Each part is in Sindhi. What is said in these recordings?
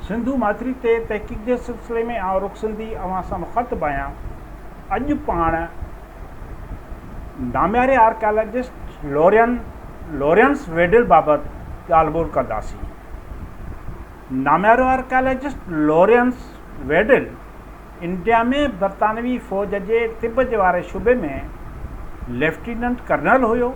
سنڌو ماٿري تي تحقيق جي سلسلي ۾ آئون رخ سنڌي اوهان سان مخاطب آهيان. اڄ پاڻ نامياري آرڪيالاجسٽ لورين لورينس ويڊل بابت ڳالهه ٻولهه ڪنداسين. ناميارو آرڪيالاجسٽ لورينس ويڊل انڊيا ۾ برطانوي فوج جي طب جي واري شعبي ۾ ليفٽيننٽ ڪرنل هيو.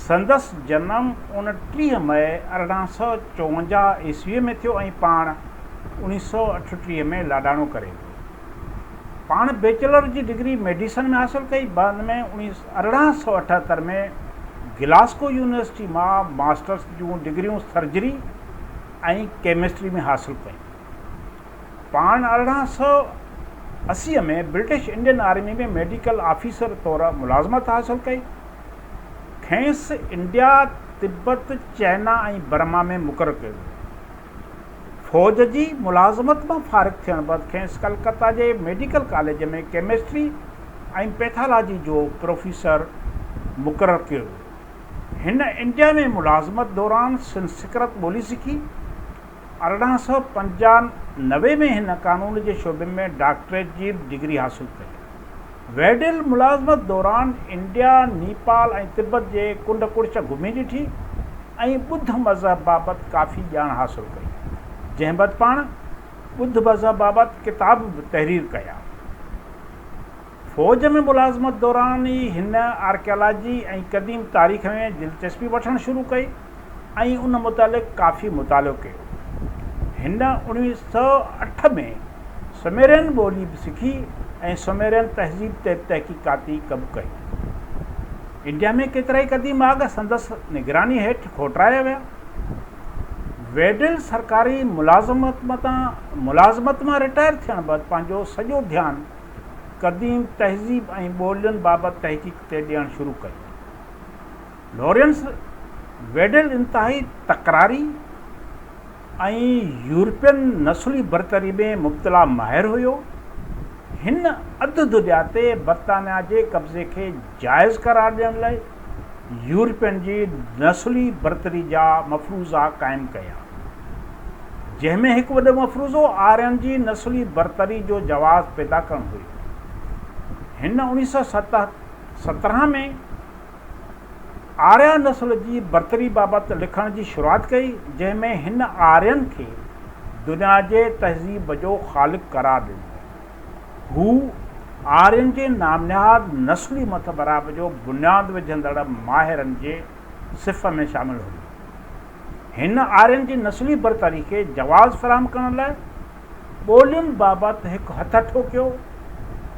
سندس جنم اوڻٽيهه مئي ارڙهن سؤ چوونجاهه عيسويء ۾ ٿيو ۽ پاڻ اوڻيهه سؤ اٺٽيهه ۾ لاڏاڻو ڪري ويو. پاڻ بيچلر جي ڊگري ميڊيسن ۾ حاصل ڪئي، بعد ۾ ارڙهن سؤ اٺهتر ۾ گلاسڪو يونيورسٽي مان ماسٽرس جون ڊگريون سرجري ۽ ڪيمسٽري ۾ حاصل ڪيون. پاڻ ارڙهن سؤ اسي ۾ British Indian army ۾ medical officer طور ملازمت حاصل ڪئي. کينئس انڊيا، تبت، چئنا ۽ برما ۾ مقرر ڪيو ويو. فوج جي ملازمت مان فارغ ٿيڻ بعد کينئس ڪلڪتا جي ميڊيڪل ڪاليج ۾ ڪيمسٽري ۽ پيٿالاجي جو پروفيسر مقرر ڪيو ويو. هن انڊيا ۾ ملازمت دوران سنسڪرت ٻولي سکي ارڙهن سؤ پنجانوي ۾ هن قانون جي شعبي ۾ ڊاڪٽريٽ جي ڊگري حاصل ڪئي. ويڊل ملازمت دوران انڊيا، نيپال ۽ تبت جي ڪنڊ ڪڙڇ گهمي ڏٺي ۽ ٻڌ مذهب بابت ڪافي ڄاڻ حاصل ڪئي، جنهن بعد پاڻ ٻڌ مذهب بابت ڪتاب به تحرير ڪيا. فوج ۾ ملازمت دوران ئي هن آرڪيالاجي ۽ قديم تاريخ ۾ دلچسپي وٺڻ شروع ڪئي ۽ ان متعلق ڪافي مطالعو ڪيو. هن اوڻويهه سؤ اٺ ۾ سميرين ٻولي به سکي ۽ سميرين تهذيب تي تحقيقاتي ڪم ڪيو. انڊيا ۾ ڪيترائي قديم آڳ سندس نگراني هيٺ کوٽرايا ويا. ويڊل سرڪاري ملازمت مان رٽائر ٿيڻ بعد پنهنجو سڄو ڌيان قديم تهذيب ۽ ٻولين بابت تحقيق تي ڏيڻ شروع ڪئي. لورينس ويڊل انتهائي تڪراري ۽ يورپين نسلي برتري ۾ مبتلا ماهر هيو. هن اڌ دنيا تي برطانيا جي قبضي کي جائز قرار ڏيڻ لاء يورپين جي نسلي برتري جا مفروضا قائم ڪيا. جنهن ۾ هڪ وڏو مفروضو آرين جي نسلي برتري جو جواز پيدا ڪرڻ هيو. هن اوڻيهه سؤ سترهن ۾ آريا نسل جي برتري بابت لکڻ جي شروعات ڪئي، جنهن ۾ هن آرين کي دنيا جي تهذيب جو خالق قرار ڏنو. هو آرين جي نامنهاد نسلي مٿڀرائپ جو بنياد وجهندڙ ماهرن جي صف ۾ شامل هيو. هن آرين جي نسلي برتري کي جواز فراهم ڪرڻ لاء ٻولين بابت هڪ هٿ اٺو ڪيو.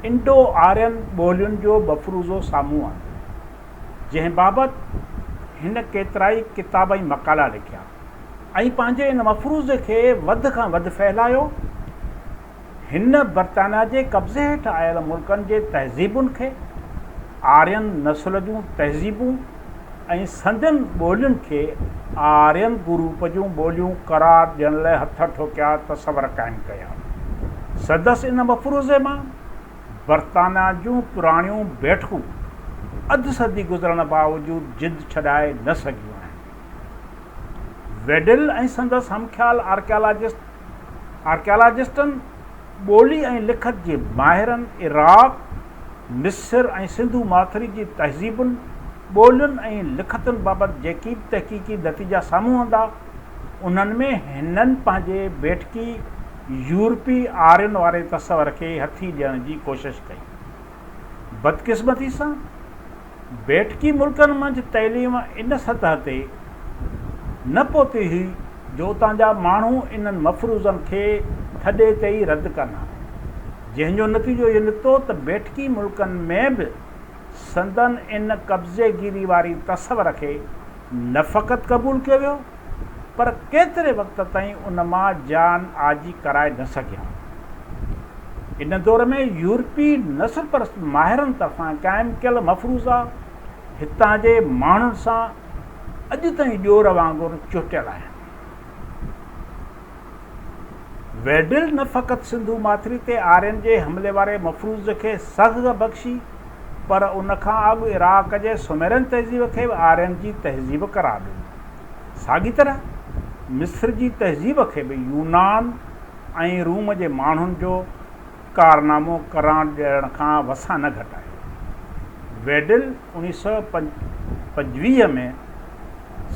انڊو آرين ٻولين جو مفروضو سامهون آندو، جنهن بابت هن ڪيترائي ڪتاب ۽ مقالا لکيا ۽ پنهنجي ان مفروضي کي وڌ کان وڌ ڦهلايو. هن برطانيا جي قبضي هيٺ آيل ملڪن جي تهذيبن کي، آرين نسل جون تهذيبون ۽ سندين ٻولين کي آرين گروپ جون ٻوليون قرار ڏيڻ لاء هٿ ٺوڪيا تصور قائم ڪيا. سندس ان مفروضي مان برطانيا جون پراڻيون بيٺڪون اڌ صدي گذرڻ باوجود جند ڇڏائي نه سگهيون آهن. ويڊل ۽ سندس همخيال آرڪيالاجسٽ آرڪيالاجسٽن، ٻولي ۽ لکت جي ماهرن عراق، مصر ۽ سنڌو ماٿري جي تهذيبن، ٻولين ۽ لکتن بابت جيڪي به تحقيقي نتيجا سامهون آندا، انهن ۾ هنن پنهنجي بيٺڪي يورپي آرين واري تصور کي هٿي ڏيڻ جي ڪوشش ڪئي. بدقسمتي سان، بيٺڪي ملڪن منجھ تعليم ان سطح تي نه پهتي هئي جو اتان جا ماڻهو انهن مفروضن کي ٿڏي تي ئي رد ڪن ها، جنهن جو نتيجو اهو نڪتو ته بيٺڪي ملڪن ۾ به سندن ان قبضيگيري واري تصور کي نه فقط قبول ڪيو ويو، پر ڪيتري وقت تائين ان مان جان آجي ڪرائي نه سگهيا. ان دور ۾ يورپي نسل پرست ماهرن طرفان قائم ڪيل مفروضا هتان جي ماڻهن سان اڄ تائين ڏور وانگر چهٽيل آهن. ويڊل نه فقط سنڌو ماٿري تي آرين جي حملي واري مفروض کي سگهه بخشي پر ان کان اڳ عراق جي سوميرين تهذيب کي به آرين جي تهذيب قرار ڏنو. ساڳي طرح مصر جي تهذيب کي به يونان ۽ روم جي ماڻهن جو ڪارنامو قران ڏيڻ کان وسان نه گهٽ آهي. ويڊل اڻيهه سؤ پنجويهه ۾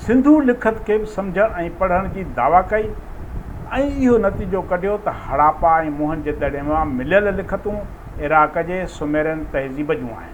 سنڌو لکت کي به سمجهڻ ۽ پڙهڻ جي دعويٰ ڪئي ۽ اهو نتيجو ڪڍيو ته هڙاپا ۽ موهن جدڙي مان مليل لکتون عراق جي سوميرين تهذيب جون آهن.